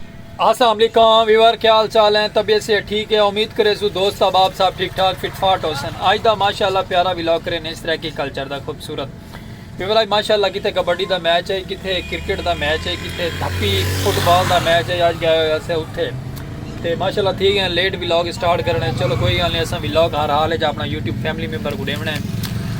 السلام علیکم ویور کیا حال چال ہیں طبیعت سے ٹھیک ہے امید کرے سو دوست احباب صاحب ٹھیک ٹھاک فٹ فاٹ ہو سن آج دا ماشاءاللہ پیارا ویلاگ کرے نے اس طرح کی کلچر دا خوبصورت ویور آج ماشاءاللہ کتے کبڈی دا میچ ہے کتے کرکٹ دا میچ ہے کتے دھپی فٹ بال دا میچ ہے آج گیا ہویا سے اتھے تے ماشاءاللہ تھی گئے لیٹ ویلاگ سٹارٹ کرنے چلو کوئی گل نہیں اساں ویلاگ ہر حال ہے جا اپنا یوٹیوب فیملی ممبر کو ڈیونا ہے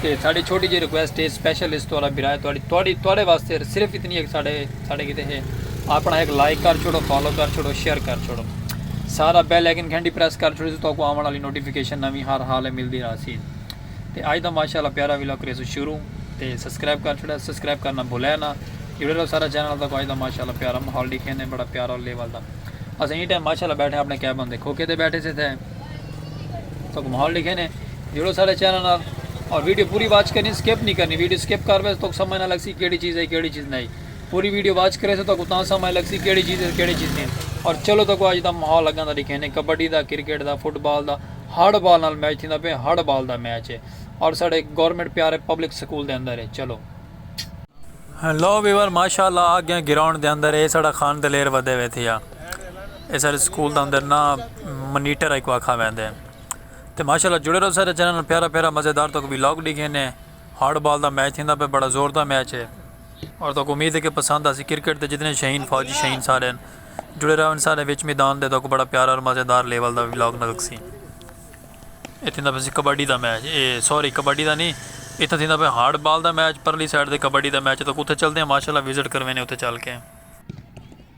تے ساڈی چھوٹی جئی ریکویسٹ ہے سپیشل اس توالا برائے تواڈی تواڈی تواڈے واسطے صرف اتنی ہے کہ ساڈے ساڈے کیتے ہے اپنا ایک لائک کر چھوڑو فالو کر چھوڑو شیئر کر چھوڑو سارا بیل آئیکن گھنٹی پریس کر چھوڑو تو کو آون والی نوٹیفیکیشن نویں ہر حال ہے ملدی رہا سی تے اج دا ماشاءاللہ پیارا ویلا کرے سو شروع تے سبسکرائب کر چھوڑا سبسکرائب کرنا بھولے نا جڑے رہو سارا چینل دا کو اج دا ماشاءاللہ پیارا ماحول دکھیندے بڑا پیارا لیول دا اسیں ای ٹائم ماشاءاللہ بیٹھے اپنے کیبن دے کھوکے تے بیٹھے سے تھے تو کو ماحول لکھے نے جڑو سارے چینل نال اور ویڈیو پوری واچ کرنی سکپ نہیں کرنی ویڈیو سکپ کر ویسے تو سمجھ نہ لگ سی کیڑی چیز ہے کیڑی چیز نہیں پوری ویڈیو واچ کرے سے تو کو تاں سمجھ لگ سی کیڑی چیز ہے کیڑی چیز نہیں اور چلو تو کو اج دا ماحول لگاں دا لکھے نے کبڈی دا کرکٹ دا فٹ بال دا ہڑ بال نال میچ تھیندا پہ ہڑ بال دا میچ ہے اور ساڈے گورنمنٹ پیارے پبلک سکول دے اندر ہے چلو ہیلو ویور ماشاءاللہ آ گیا گراؤنڈ دے اندر ہے ساڈا خان دلیر ودے وے تھیا اے سارے سکول دا اندر نا منیٹر ہک آکھا ویندے ہیں تے ماشاءاللہ جڑے رہو سارے چینل پیارا پیارا مزیدار تو کبھی لاگ ڈیکھے نے ہارڈ بال دا میچ تھیندا پہ بڑا زور دا میچ ہے اور تو کو امید ہے کہ پسند آسی کرکٹ دے جتنے شہین فوجی شہین سارے ہیں جڑے رہو ان سارے وچ میدان دے تو کو بڑا پیارا اور مزیدار لیول دا لاگ نلک سی اے تھیندا پہ کبڈی دا میچ اے سوری کبڈی دا نہیں اے تھا تھیندا پہ ہارڈ بال دا میچ پرلی سائڈ دے کبڈی دا میچ تو کتے چلتے ہیں ماشاءاللہ وزٹ کروینے اتے چل کے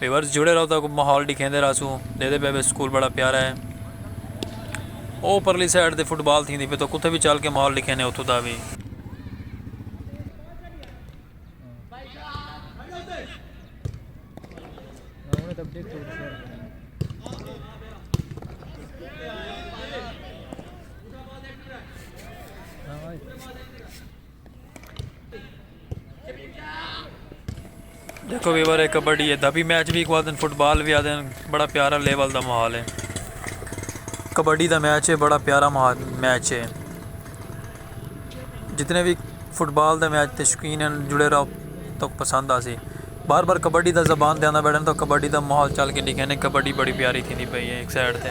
ویورز جڑے رہو تاکوں ماحول ڈکھیندے رہسوں دیدے پے وے سکول بڑا پیارا ہے او پرلی سائیڈ تے فٹ بال تھیندی پے تو کتے وی چل کے ماحول ڈکھینے اتھوں دا وی۔ دیکھو ویور ہے کبڈی ہے دبی میچ بھی کو دن فٹ بال بھی آدھے بڑا پیارا لیول دا ماحول ہے کبڈی دا میچ ہے بڑا پیارا میچ ہے جتنے بھی فٹ بال دا میچ تے شوقین ہیں جڑے رہو تو پسند آ سی بار بار کبڈی دا زبان دے آنا بیٹھے تو کبڈی دا ماحول چل کے لکھے نے کبڈی بڑی پیاری تھی پئی ہے ایک سائڈ تے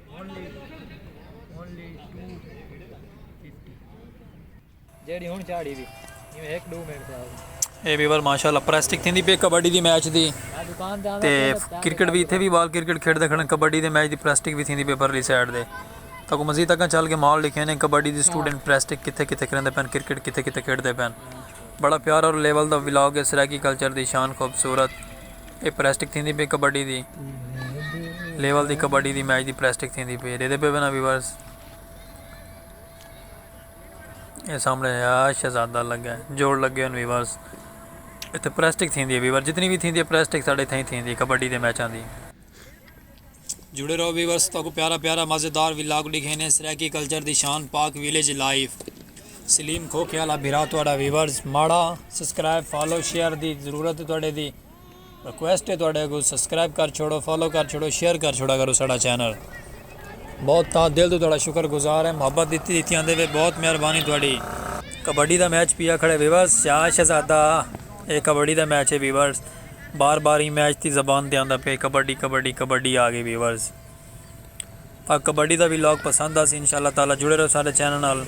اے ویور ماشاءاللہ پریسٹک تھیندی پی کبڈی دی میچ دی تے کرکٹ بھی تھے بھی بال کرکٹ کھیڑ دے کھڑن کبڈی دی میچ دی پریسٹک بھی تھیندی پی پرلی سائیڈ دے تا کو مزید تکاں چل کے مال لکھے نے کبڈی دی سٹوڈنٹ پریسٹک کتے کتے کھڑن دے پین کرکٹ کتے کتے کھیڑ دے پین بڑا پیار اور لیول دا ولاگ ہے سرائیکی کلچر دی شان خوبصورت اے پلاسٹک تھیندی پئی کبڈی دی لیول دی کبڈی دی میچ دی پلاسٹک تھیندی پئی ڈیدے پے بنا ویورز اے سامنے یا شہزادہ لگا ہے جوڑ لگے ان ویورز اتے پلاسٹک تھیندی ہے ویور جتنی بھی تھیندی ہے پلاسٹک ساڑے تھیں تھیندی کبڈی دے میچاں دی جڑے رہو ویورز تاکو پیارا پیارا مزیدار ولاگ ڈکھینے سرائیکی کلچر دی شان پاک ویلیج لائف سلیم کھوکھے والا بھرا تہاڈا ویورز ماڑا سبسکرائب فالو شیئر دی ضرورت ہے تہاڈے دی ریکویسٹ ہے تہاڈے کو سبسکرائب کر چھوڑو فالو کر چھوڑو شیئر کر چھوڑا کرو ساڈا چینل بہت تا دل تو تہاڈا شکر گزار ہے محبت دیتی دیتی آندے وے بہت مہربانی تہاڈی کبڈی دا میچ پیا کھڑے ویورز شاہ شہزادہ اے کبڈی دا میچ ہے ویورز بار بار ایں میچ دی زبان تے آندا پئے کبڈی کبڈی کبڈی آ گئی ویورز تاکوں کبڈی دا ولاگ پسند آسی انشاء اللہ تعالی جڑے رہو ساڈے چینل نال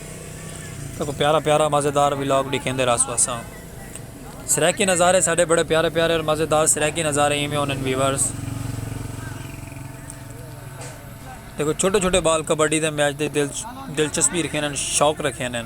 تاکوں پیارا پیارا مزیدار ولاگ ڈکھیندے رہسوں اساں سرائیکی نظارے ساڈے بڑے پیارے پیارے اور مزیدار سرائیکی نظارے ایویں ہونن ویورز دیکھو چھوٹے چھوٹے بال کبڈی دے میچ دے دلچسپی رکھینن شوق رکھینن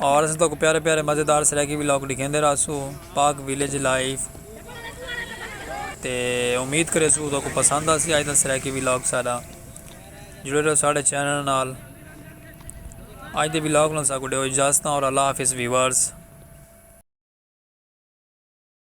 اور اساں تہاکوں پیارے پیارے مزیدار سرائیکی ولاگ ڈکھیندے رہسوں پاک ویلیج لائف تے امید کریسوں تہاکوں پسند آسی اج دا سرائیکی ولاگ ساڈا جڑے رہو ساڈے چینل نال اج دے ولاگ نال ساکوں ڈیو اجازتاں اور اللہ حافظ ویورز